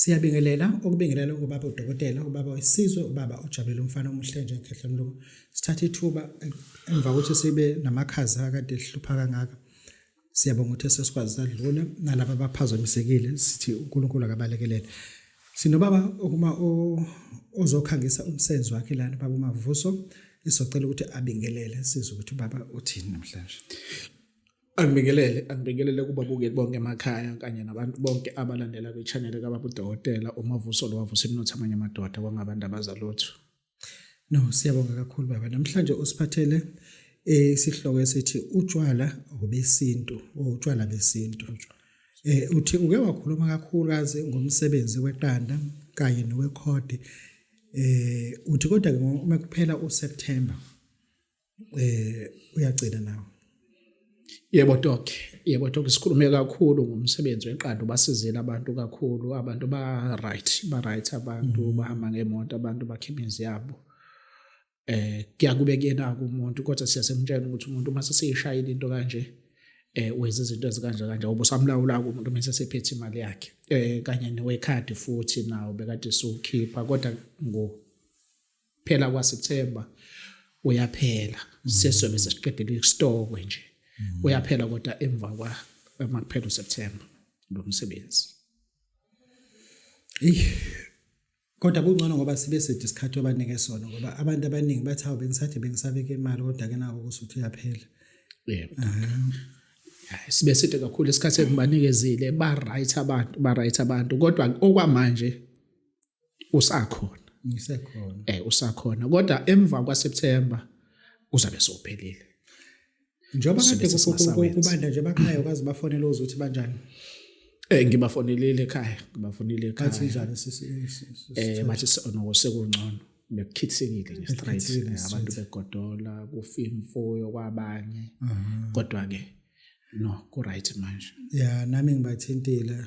Siyabingelela ukubingelela kubaba udokotela ubaba wesizwe ubaba ujabele umfana omuhle nje ngikhehla mlungu sithatha ithuba emva kokuthi sibe namakhaza akade ehlupha kangaka siyabonga ukuthi sesikwazi sadlula nalabo abaphazamisekile sithi uNkulunkulu akabalekelele sinobaba okuma ozokhangisa umsebenzi wakhe lana baba uMavuso isocela ukuthi abingelele sizwe ukuthi baba uthini namhlanje Angibingelele angibingelele kubabukeli bonke emakhaya kanye nabantu bonke abalandela kwi-channel kaBaba uDokotela uMavuso lo wavusa imnotho amanye amadoda kwangabantu abazalutho. No siyabonga kakhulu baba namhlanje usiphathele eh, isihloko esithi utshwala obesintu oh, utshwala besintu. Eh uthi uke wakhuluma kakhulukazi ngomsebenzi weqanda kanye nowekhodi. Eh uthi kodwa uma kuphela uSeptember eh uyagcina nawe Yebo Doc, yebo Doc sikhulume kakhulu ngomsebenzi weqanda ubasizile abantu kakhulu, abantu ba right, ba right abantu mm. bahamba ngemoto, abantu bakhipha imizi yabo. Eh kuyakube kuyena umuntu kodwa siyasemtshela ukuthi umuntu uma sesishayile into kanje eh wenza izinto ezikanje kanje ubusamlawula umuntu mase sephethe imali yakhe. Eh kanye newekhadi futhi nawo bekade siwukhipha kodwa ngo phela kwa September uyaphela mm. sesobe sesiqedile isitokwe nje mm. uyaphela kodwa emva kwa makuphela uSeptember lo msebenzi eyi kodwa kungcono ngoba sibe side isikhathi abanike sona ngoba abantu abaningi bathi hawu bengisathi bengisabeke imali kodwa ke nako kusuthi uyaphela yebo sibe side kakhulu isikhathi engibanikezile ba right abantu ba right abantu kodwa okwamanje usakhona ngisekhona eh usakhona kodwa emva kwa September uzabe sophelile njengoba kade kubanda nje bakhayo kazi bafonela uzothi banjani Eh ngibafonelile ekhaya, ngibafonile ekhaya. Bathi njani sisi? Eh bathi sonoko sekungcono. Bekukhithikile nje straight eh, abantu begodola kufimfoyo kwabanye. Kodwa ke no ku right manje. Yeah nami ngibathintile.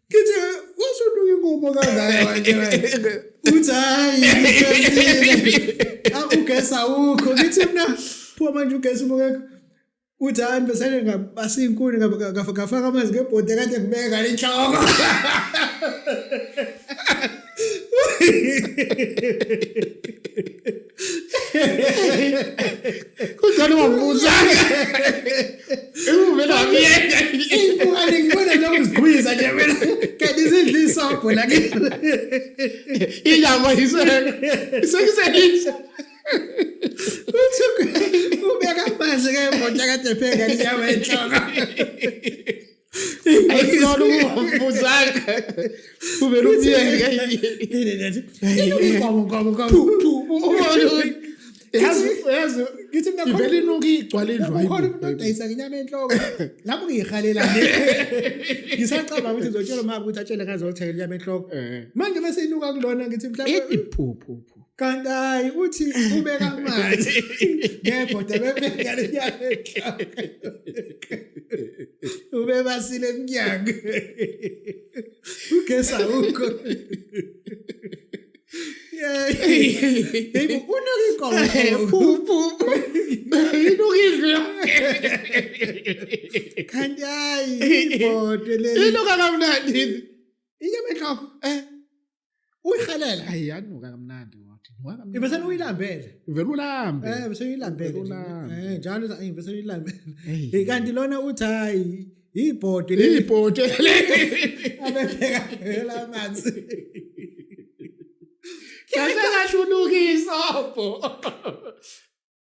Ngithi washo uduka inkomo kangaka uthi hayi ugesi awukho ngithi mina phuma manje ugesi ubukekho uthi hayi mbesane ngabasa iy'nkuni ngafaka amanzi ngebhodi kade kubeka le nhloko Kunjani ungambuza? Uvela wamyeka. Ingane ngibona noma uzigwiza nje mina. Kanti izidla isabho la ke. Inyama iseke. Isekiselisa. Uthi ubeka amanzi ke mboja kade pheka inyama enhloko. ayikona ukuvuzaka uvela umyeka ivele inuka igcwala indlwakhona umuntu odayisa ngenyama enhloko lapho ngiyihalela ngisacabanga ukuthi ngizotshelwa mama ukuthi atshele ngazothenga inyama enhloko manje bese inuka kulona ngithi mhlawumbe kanti hayi uthi ubeka amanzi ngebhoda bebeka lenyanga ubebasile emnyango ugesa ukho Baby, unokikola phuphu. Inokizwe. Kanti hayi ibhodwe leli. Inoka kamnandi. Inyama enhloko. Eh. uyihalela hayi yanuka kamnandi wathi ibese uyilambele uvela ulambe eh bese uyilambele eh njalo eh bese uyilambele hey kanti lona uthi hayi ibhodo leli ibhodo leli abebheka phela amanzi Kasa na chunugi sopo.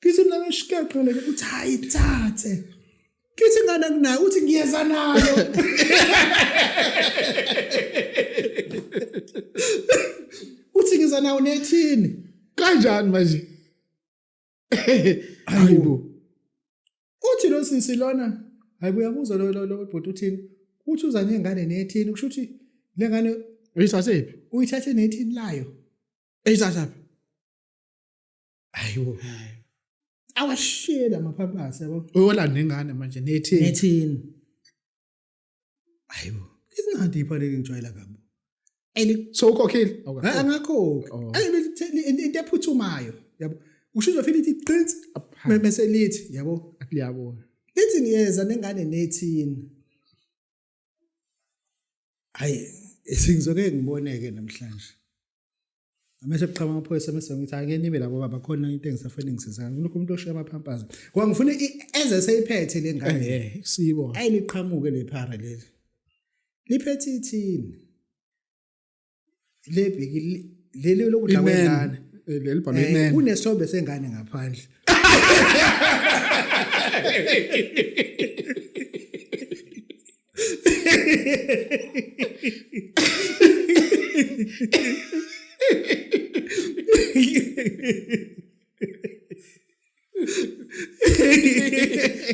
kithi mina ngishiqaqele ukuthi hayi thathe kithi ngane kunayo uthi ngiyeza nayo uthi ngiza nawo nethini kanjani manje hayibo uthi lo sisi lona hayibo uyabuzwa lo lo bhuti uthini uthi uza nengane nethini kusho ukuthi le ngane uyithathephi uyithathe nethini layo eyithathaphi ayiwo awashiyela amaphaphathi yabo uyolanda ingane manje nethi nethini ayiwo izinadi iphaleke ngijwayela kabi and so ukhokhile angakhokhi oh. into ephuthumayo yabo usho uzofika ithi qinsi bese lithi yabo liyabona lithi ngiyeza nengane nethini hayi sengizokeke ngiboneke namhlanje amese kuqhama amaphoyisa mese ngithi ake nibe labo baba khona into engisafuna ngisizana kulokho umuntu oshiya amaphampazi ngoba ngifuna eze seyiphethe le ngane eh, eh sibo ayi liqhamuke le phara leli liphethe ithini le bheki leli lokudla kwengane eh, leli bhalwe eh, imene kunesithombe sengane ngaphandle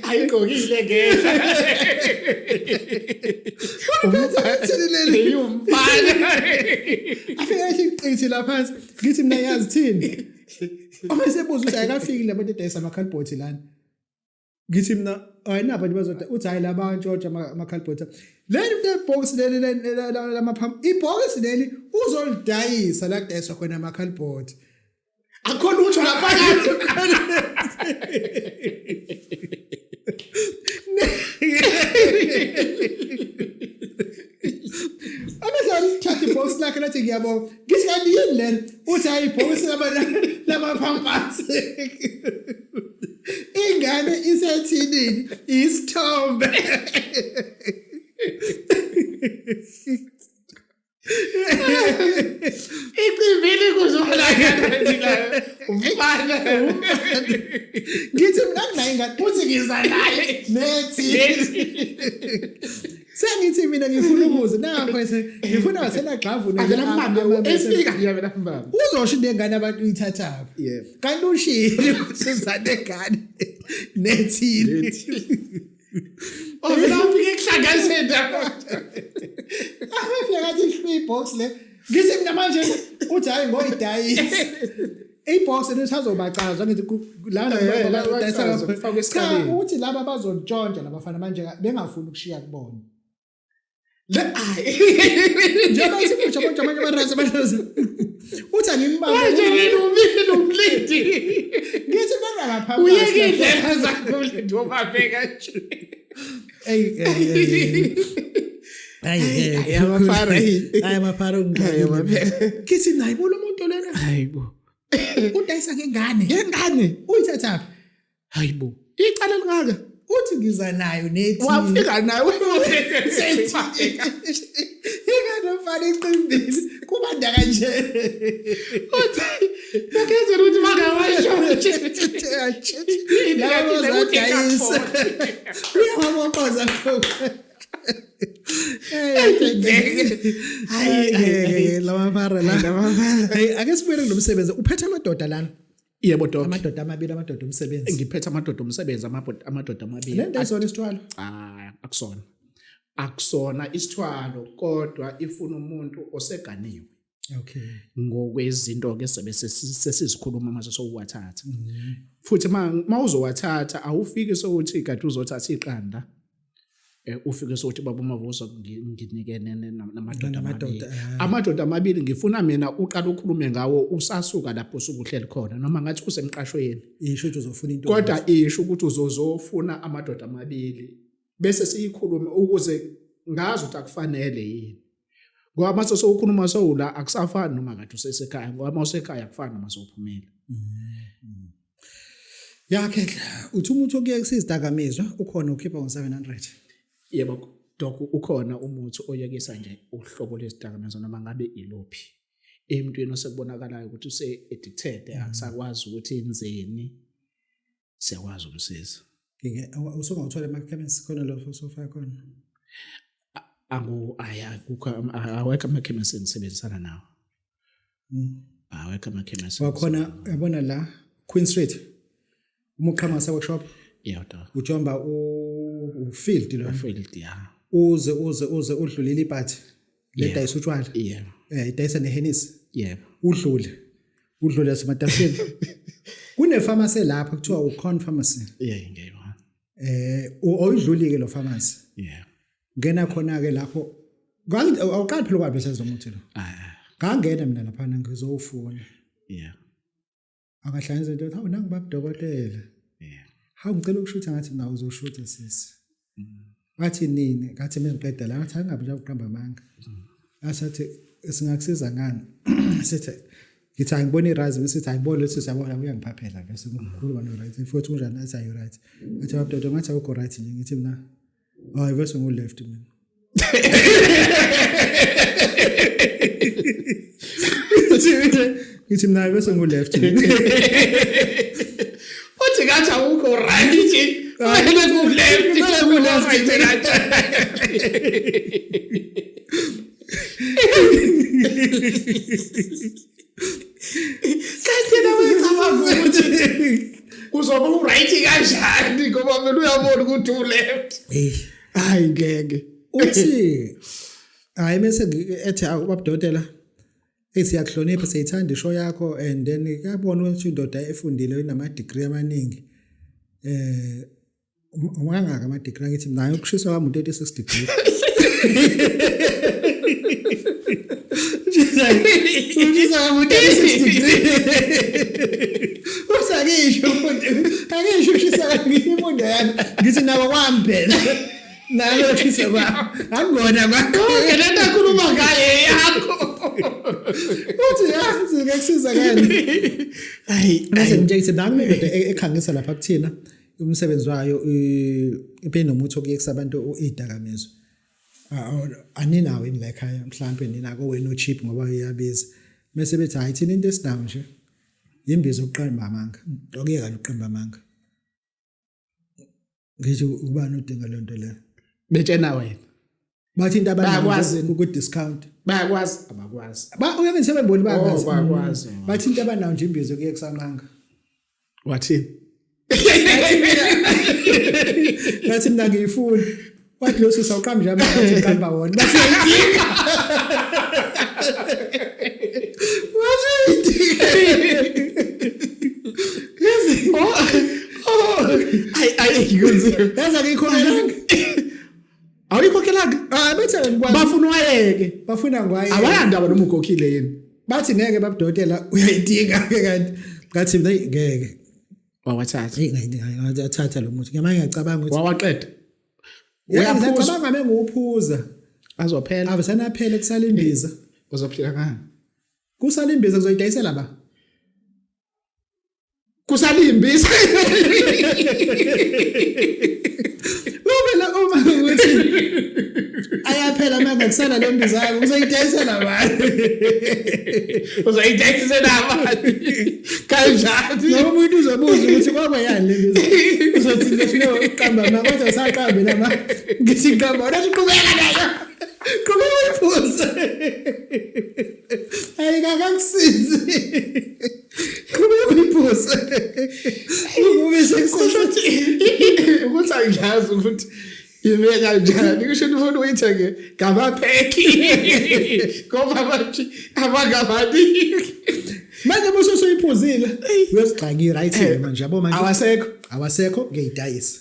ayigqokile ngeke umphathini leli yumfana afika isiqinsi la phansi ngithi mina yazi thini uma sebuza ukuthi ayikafikile abantu edayisa ama-calbot lana ngithi mina ayinabo abantu bazoda uthi hhayi laba ntshotsha ama-calbot leli nto ibhokisi leli lamaphambi ibhokisi leli uzolidayisa la kudayiswa khona ama-calbot akho lutho ngaphakathi amezalithatha ibhokisi lakhe lathi ngiyabonga ngithi kanti yini lena uthi hayi ibhokisi lamapampasi ingane isethidini isithombe Icimbili kuzona umfana ngithi mina nginayo ingane futhi ngiza naye nethi sengithi mina ngifuna ukuze nakho ese ngifuna wasena gxavu nje mbambe esika nje mina mbambe uzosho into engane abantu uyithathaphi kanti ushilo sizane ngane nethile Ovela ufike kuhlangazeni. Afika kathi ihlwi box le. Ngithi mina manje uthi hayi ngoyidayisa. Ibox lisazobacazwa ngithi la eh, la bayidayisa ngapha. Uthi laba bazontshontsha labafana manje bengafuni ukushiya kubona. njengoba uthi mutsha kodwa amanye amarasa amadlozi uthi angimbambeumlidi ngithi bengakaphauyeke indlela zakhe umlidi wobabeka nje ayamafara ngithi naye bolo muntu lena udayisa ngengane ngengane uyithathaphi hayibo icala lingaka uthi ngiza nayo nethi wafika nayo inganofana iqimbili kubanda kanje uthi bakenze ukuthi makawasho labo zadayisa uyawaboqoza hayi lama mara la ake sibuyele nomsebenzi uphethe amadoda lana yebo doc amadoda amabili amadoda omsebenzi ngiphethe amadoda omsebenzi amadoda amabili le nto ayisona isithwalo ah akusona akusona isithwalo kodwa ifuna umuntu oseganiwe okay ngokwezinto ke sebe sesizikhuluma mase sokuwathatha mm. futhi mawuzowathatha awufiki sokuthi kade uzothatha iqanda Eh, ufike sokuthi baba umavuso nginike namadoda amabili ah. amadoda amabili ngifuna mina uqala ukhulume ngawo usasuka lapho usukuhleli khona noma ngathi usemqashweni isho ukuthi uzofuna into kodwa isho ukuthi uzozofuna amadoda amabili bese siyikhulume ukuze ngazi ukuthi akufanele yini ngoba mase sowukhona uma sewula akusafani noma ngathi usesekhaya ngoba uma usekhaya akufani noma sewuphumela mm-hmm. yakhe uthi umuntu okuye kusizidakamizwa ukhona ukhipha ngo-700 yebo dok ukhona umuthi oyekisa nje uhlobo lwezidakamizwa noma ngabe iluphi emntwini osekubonakalayo ukuthi use-addicted akusakwazi ukuthi enzeni siyakwazi umsiza usungawuthola emakhemisi khona lo sofa khona angu aya kukho awekho amakhemisi engisebenzisana nawo hmm. awekho amakhemisi wakhona yabona la Queen Street uma uqhamasa workshop yeah dog ujomba u field lo field yeah uze uze uze udlulile iphathi le Yeah. dayisa utshwala yebo eh idayisa nehenisi yebo udlule udlule yasematafeni kunepharmacy lapho kuthiwa ucon pharmacy yeah ngiyayibona eh u- oyidlulike lo pharmacy yeah ngena khona ke lapho Ngangi- awuqali phela kwabe senzo muthi lo ah ngangena mina lapha ngizowufuna yeah akahlanye izinto athi hawu nangu babudokotela yeah hawu ngicela ukushutha ngathi nawe uzoshutha sisi mm. wathi nini ngathi mina ngiqeda la ngathi angabe nje ukuqamba amanga mm. asathi singakusiza ngani sithi ngithi angibona irazi sithi angibona leso siyabona uyangiphaphela bese ngikhuluma no right futhi unjani athi ayi right athi babdodo ngathi awukho right nje ngithi mina hayi bese ngu left mina ngithi mina bese ngu left uthi ngathi awukho right nje ayike ku left bese ngu left kanti yena wayecabanga ukuthi kuzoba uright kanjani ngoba mina uyabona ukuthi uleft hayi ngeke uthi hayi bese ethi awubabudotela hey siyakuhlonipha siyithanda isho yakho and then kuyabona ukuthi indoda efundile inama degree amaningi eh Ungangaka ama degree angithi nayo ukushiswa kwami 36 degrees. Ushisa kwami 36 degrees. Usakisho mfundi. Akisho ushisa kwami imfundo yami. Ngithi nawo kwami phela. Nayo ushisa kwami. Akungona kwakho. Ngeneta khuluma ngaye yakho. Uthi yazi ngekusiza kanjani? Hayi, bese ngitshengise nami indoda ekhangisa lapha kuthina. umsebenzi wayo ibe nomuthi okuyekisa abantu idakamizwa aninawo ini la ekhaya mhlawumbe nina kowenu ochip ngoba uyabiza mese bethi hayi thina into esinawo nje yimbiza ukuqamba amanga okuyeka nokuqamba amanga ngisho ubani udinga lento leyo betshena wena bathi into abanayo ku discount bayakwazi abakwazi ba uyeke sebeboni bayakwazi oh, bayakwazi mm. bathi into abanayo nje imbizo kuye kusanqanga wathini ngathi mina ngiyifuni wathi lo sisa uqamba nje abantu uqamba wona bathi yidinga wathi yidinga oh oh ay ay ngikunzima yazi akuyikho nje awuyikhokhela ah, bafuna wayeke bafuna ngwaye awayandaba noma ukhokhile yini bathi ngeke babudotela uyayidinga ke kanti ngathi hey ngeke wawathatha hey ngathi athatha lo muthi ngamanye ngiyacabanga ukuthi wawaqeda uyaphuza ngabe nguphuza azophela avesana aphele kusala imbiza uzophila ngani kusala imbiza kuzoyidayisela ba kusalimbisa Lobela uma ukuthi ayaphela manje kusana lembiza yakho uzoyidayisa nabani uzoyidayisa nabani kanjani noma umuntu uzobuza ukuthi kwakwa yani lembiza uzothi ngifuna uqamba mama kodwa usaqambe lama ngithi qamba wena uqhubeka nayo qhubeka uyifuze ayikakakusizi Qhubeka uyiphose. Ube sekusasho ukuthi angiyazi ukuthi yime kanjani kusho ukuthi ufuna uyithenge ngamapheki ngoba manje abangabani manje mosho soyiphuzile uyosigxaki right eh, manje yabo manje awasekho awasekho ngiyidayisa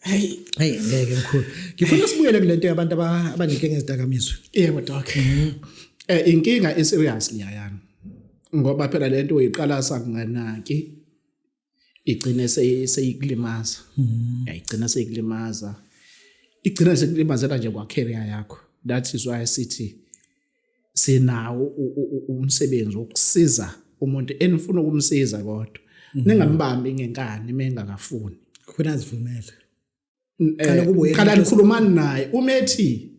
Hey, hey ngeke mkhulu. Ngifuna sibuyele kulento yabantu abanenkinga ezidakamizwe. Yebo doc. Mhm. Eh inkinga i serious liyayana. Ngoba phela lento uyiqala sanganaki igcine seyikulimaza. Mhm. Yayigcina seyikulimaza. Igcina sekulimazela nje kwacareer yakho. That is why sithi sinawo umsebenzi wokusiza umuntu enifuna ukumsiza kodwa mhm. ningambambi ngenkani mengakafuni khona azivumele qala eh, kubo yena qala nikhulumani naye uma ethi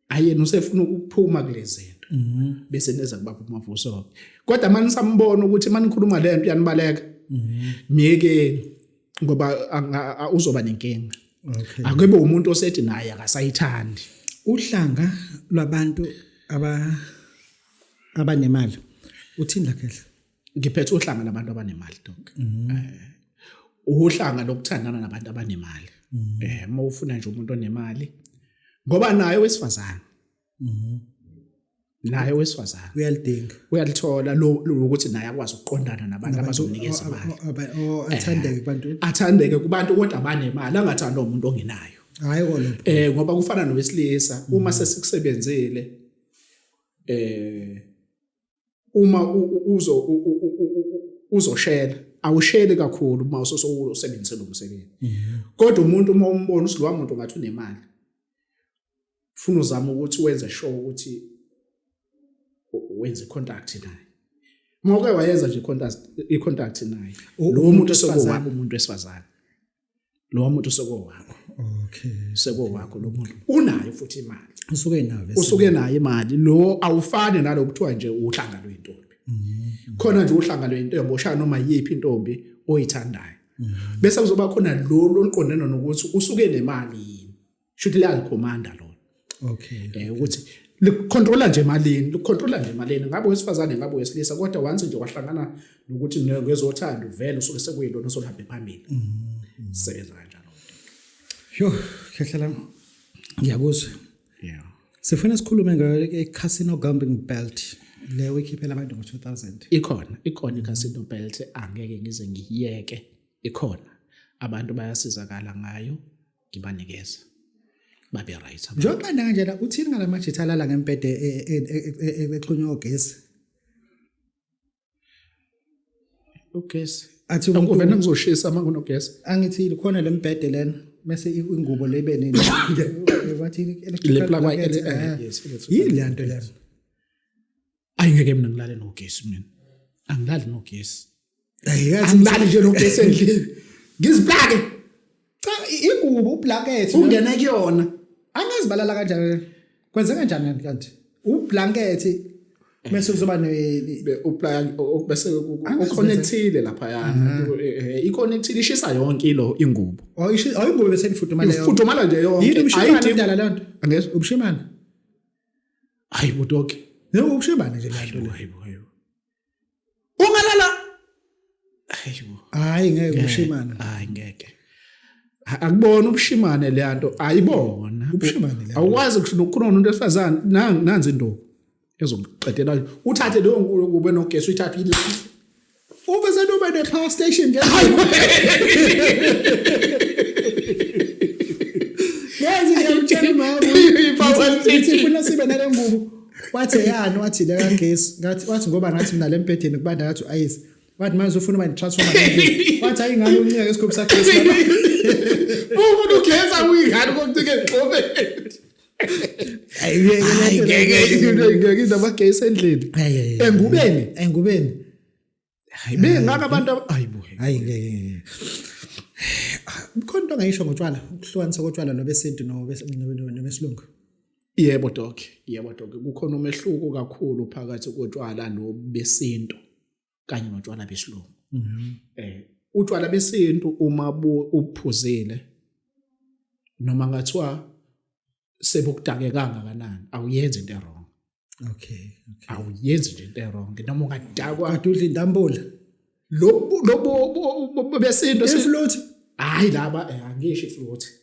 ayena usefuna ukuphuma kulezi Mhm. bese neza kubaba umavuso kodwa mani sambona ukuthi mani ngikhuluma lento yanibaleka mhm. myekeni ngoba uzoba nenkinga akube umuntu osethi naye akasayithandi uhlanga lwabantu aba abanemali uthini lakhehla ngiphethe uhlanga labantu abanemali donke mhm. eh, uhlanga lokuthandana nabantu abanemali mhm. eh uma ufuna nje umuntu onemali ngoba naye wesifazane mhm naye wesifazana uyalidinga uyalithola lo ukuthi naye akwazi ukuqondana nabantu abazomnikeza imali athandeke eh, kubantu athandeke kubantu kodwa banemali angathanda umuntu ongenayo hayi kona eh ngoba kufana nowesilisa uma mm. sesikusebenzile eh uma uzo uzoshela awusheli kakhulu uma usosebenzise lo msebenzi mhm. kodwa umuntu uma umbona ukuthi lowa muntu ngathi unemali ufuna uzama ukuthi wenze sure ukuthi wenze contact naye uma uke wayenza nje contact i-contact naye lo muntu sekuwaba umuntu wesifazane lowa muntu sokowakho okay sekowakho lo muntu unayo futhi imali usuke nayo usuke nayo imali lo awufani nalo kuthiwa nje uhlanga lwentombi mm-hmm. khona nje uhlanga lwentombi oshaya noma yiphi intombi oyithandayo mm-hmm. bese kuzoba khona lo loliqondene nokuthi usuke nemali shuthi liya commander lo okay eh ukuthi licontrola nje malini licontrola nje malini ngabe wesifazane ngabe wesilisa kodwa once nje wahlangana nokuthi ngezothando vele usuke sekuyilona sohambe phambili mm-hmm. sebenza kanjalo yho khehlela ngiyakuzwa yeah sifuna sikhulume ngeCasino Gambling Belt le wikhiphela abantu ngo-2000 ikhona ikhona i-casino belt angeke ngize ngiyeke ikhona abantu bayasizakala ngayo ngibanikeza babe right njengoba kanjena uthini ngalamajitha alala ngempede e, e, e, exhunywe ogesi ugesi athi uvena ngizoshisa uma kunogesi angithile khona le mbhede lena mese ingubo le ibe nini wathi electrical yini le nto lena ayi ngeke mina ngilale nogesi mina angilali nogesi angilali nje nogesi endlini ngiziplake cha ingubo ublanket ungena kuyona angazibalala kanjani kwenze kanjani kanti ublanket bese kuzoba ne uplan bese uconnectile lapha yana i connectile ishisa yonke lo ingubo oh ishisa oh ingubo bese ifudumala yonke ifudumala nje yonke ayidala lento angeke ubushimana hayi butoki yebo ushebane nje lento le hayibo hayibo ungalala hayibo hayi ngeke ushimane hayi ngeke akubona ubushimane le nto ayibona ubushimane le awukwazi ukukhona umuntu esifazane nanzi indoku ezomqedela uthathe leyo ngubo enogesi uyithathe Ube senoba ne car station nje. Yazi ngiyamtshela mama. Ithi funa sibe nale ngubo. Wathi yani wathi le kagesi. Ngathi wathi ngoba ngathi mina lembhedeni kubanda ngathi ayisi. Wathi manje ufuna uba transformer. Wathi ayi ngani uncika ngesikhobi sakhe. Ufuna ugeza uyingani kokucike ngqobe. ayingekeyinto abagay isendlini engubeni engubeni bengaka abantu ayingeke khona into ongayisho ngotshwala ukuhlukanisa kotshwala nobesintu nobesilungu yebo doke yebo doke kukhona umehluko kakhulu phakathi kotshwala nobesintu kanye notshwala besilungu mhm. eh utshwala besintu uma uphuzile noma ngathiwa sebukudake kangakanani awuyenzi into error okay okay awuyenzi nje into error noma ungadakwa adudla intambula lobo lobo besintu ifloat hayi laba eh, angisho ifloat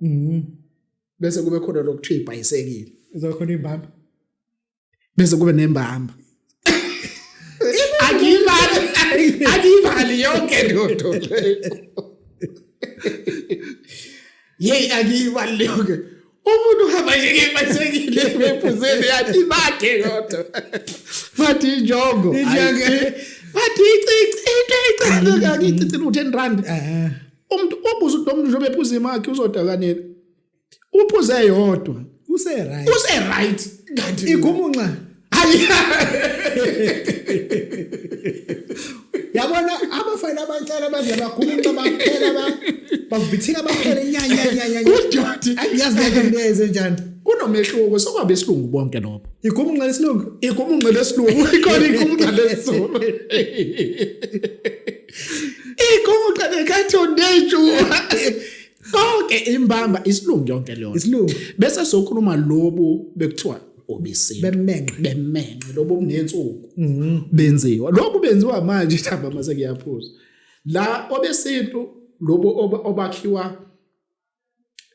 mhm bese kube khona lokuthiwa ibhayisekile izokhona imbamba bese kube nembamba akiyimali akiyimali yonke lento yeyi akiyimali yonke umuntu uhamba nje ngebhayisekile bephuzeni yathi bakhe kodwa bathi injongo bathi icici into icane kakichithi lu-ten rand umuntu ubuza ukuthi umuntu njengoba ephuza imakhi uzodakanela uphuze yodwa use right use right kanti igumunxa yabona abafana abancane abadla bagumunxa baphela ba bavithika baphela nyanya nyanya udoti yazi ngeke neze njani kunomehluko sokwabe isilungu bonke lobo igumunxa lesilungu igumunxa lesilungu ikhona igumunxa lesilungu Igoqa nekatho ndeju. Konke imbamba isilungu yonke leyo. Isilungu. Bese sokhuluma lobu bekuthiwa obesini. Bemenqe. Bemenqe lobu obunensuku. Mhm. Benziwa. Lokhu benziwa manje thamba mase kuyaphuza. La obesintu lobo obakhiwa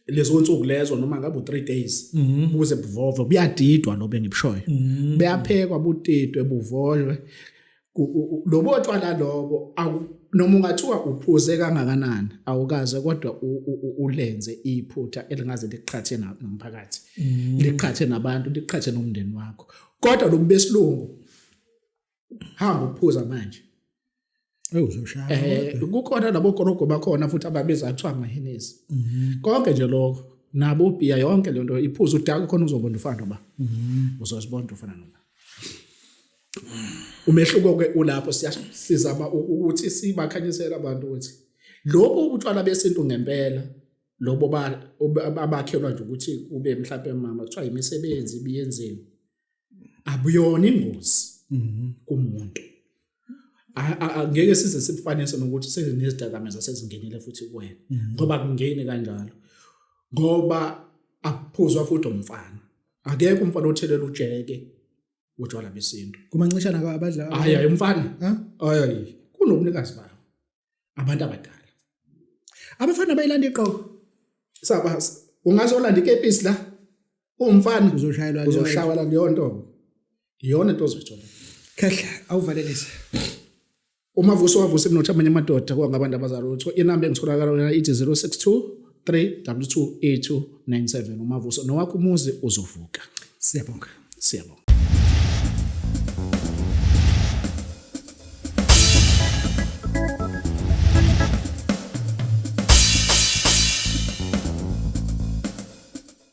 lezo nsuku lezo noma ngabe u3 days mhm. buze buvove buyadidwa lo bengibushoyo mhm. beyaphekwa butidwe buvolwe lobo tshwala lobo noma ungathiwa uphuze kangakanani awukaze kodwa ulenze iphutha elingaze liqhathe nomphakathi mhm. liqhathe nabantu liqhathe nomndeni wakho kodwa lobu besilungu hamba uphuza manje eh, eh kukhona labo korogo bakhona futhi ababiza kuthiwa amahenesi mhm. konke nje lokho nabo ubhiya yonke lento iphuza udaka khona uzobona ufana ba mhm. uzozibona ufana noma umehluko ke ulapho siyasizama ukuthi sibakhanyisela abantu ukuthi lobo utshwala besintu ngempela lobo abakhelwa nje ukuthi kube mhlawumbe mama kuthiwa imisebenzi ibiyenziwe abuyona ingozi mhm. kumuntu angeke size sibufanise nokuthi sezinezidakamizwa sezingenile futhi kuwena mhm. ngoba kungeni kanjalo ngoba akuphuzwa futhi umfana akekho umfana othelela ujeke utshwala besintu kumancishana abadla hayi hayi umfana hayi kunobunikazi ba abantu abadala abafana bayilanda iqobo saba ungaze olanda ikepisi la umfana uzoshayelwa uzoshaywa la leyo nto iyona into ozoyithola khehla awuvalelise uma vuso wavusa emnotho amanye amadoda kwangabantu abazalwa utho inamba engitholakala yona ithi 062 3w28297 umavuso nowakho umuzi uzovuka siyabonga siyabonga